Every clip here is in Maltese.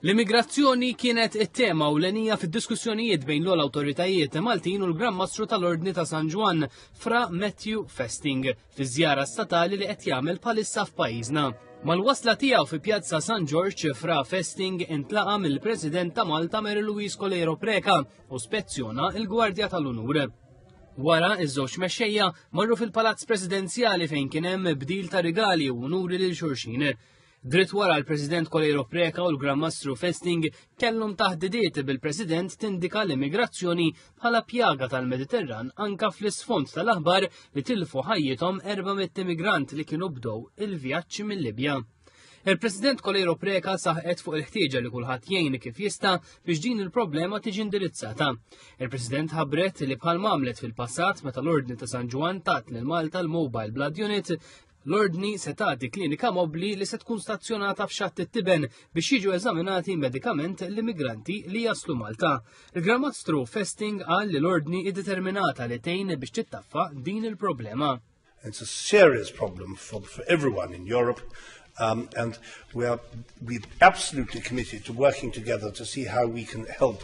L-immigrazzjoni kienet it-tema u l-enija fid-diskussjonijiet bejn l-għol autoritajiet Maltin u l-Gran Mastru tal-Ordni ta' San Ġwan, fra Matthew Festing, fi żjara statali li qed jagħmel palissa f'pajjiżna. Mal-wasla tiegħu fi Pjazza San Ġorġ fra Festing intlaqa mill-President ta' Malta Mary Louise Colero Preca u spezzjona il-Gwardja tal-Unur. Wara, iż-żewġ mexxejja marru fil-Palazz Presidenzjali fejn kien hemm bdil ta' rigali u unuri lil xulxin. Dritt wara l-President Coleiro Preca u l-Gran Mastru Festing kellhom taħdidiet bil-President tindika l-immigrazzjoni bħala pjaga tal-Mediterran anka fl-isfond tal-aħbar li tilfu ħajjithom 400 immigrant li kienu bdow il-vjaġġ mill-Libja. Il-President Kolejro Preka saħqet fuq il-ħtieġa li kulħadd jgħin kif jista' biex din il-problema tiġi indirizzata. Il-President ħabbret li bħal mamlet fil-passat meta l-Ordni ta' San Ġwan tat lil Malta l-Mobile Blood Unit L-ordni se tagħti klinika mobbli li se tkun stazzjonata f'xatt it-tiben biex jiġu eżaminati medikament l-immigranti li jaslu Malta. Il-Gramastru Festing qal li l-ordni iddeterminata li tejn biex tittaffa din il-problema. It's a serious problem for, for everyone in Europe um, and we are we absolutely committed to working together to see how we can help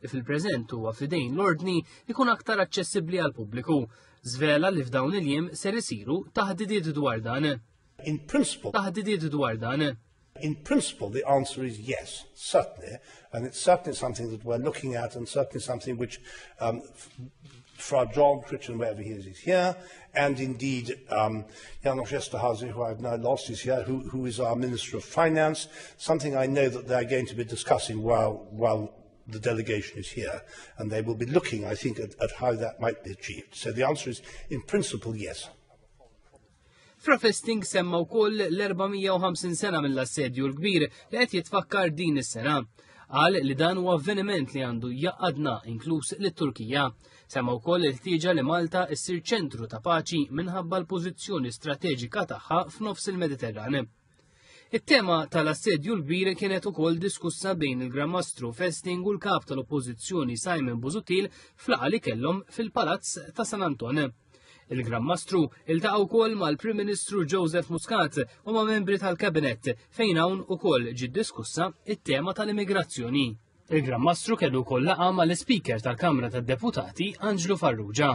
li fil-preżent huwa f'idejn l-Ordni jkun aktar aċċessibbli għall-pubbliku. Żvela li f'dawn il-jiem ser isiru taħdidiet dwar dan. In principle. Taħdidiet dwar dan. In principle, the answer is yes, certainly, and it's certainly something that we're looking at, and certainly something which, um, Fra John Critchin, wherever he is, is here, and indeed um, Janos Esterhazy, who I've now lost, is here, who, who is our Minister of Finance, something I know that they're going to be discussing while, while the delegation is here, and they will be looking, I think, at, at how that might be achieved. So the answer is, in principle, yes. Profesting semma wkoll l-450 sena mill-assedju l-kbir li qed jitfakkar din is-sena. Qal li dan huwa avveniment li għandu jaqadna inkluż lit-Turkija. Semma wkoll il-ħtieġa li Malta ssir ċentru ta' paċi minħabba l-pożizzjoni strateġika tagħha f'nofs il-Mediterrane. It-tema tal-assedju l-kbir kienet ukoll diskussa bejn il-Gramastru Festing u l-kap tal-Oppożizzjoni Simon Buzutil flaqa li kellhom fil-Palazz ta' San Anton. Il-Gramastru iltaqa' wkoll mal-Prim Ministru Joseph Muscat u ma' membri tal-Kabinet fejn hawn ukoll ġiet diskussa it-tema tal-immigrazzjoni. Il-Gramastru kellu wkoll laqa mal-Ispeaker tal-Kamra tad-Deputati Anġlu Farrugia.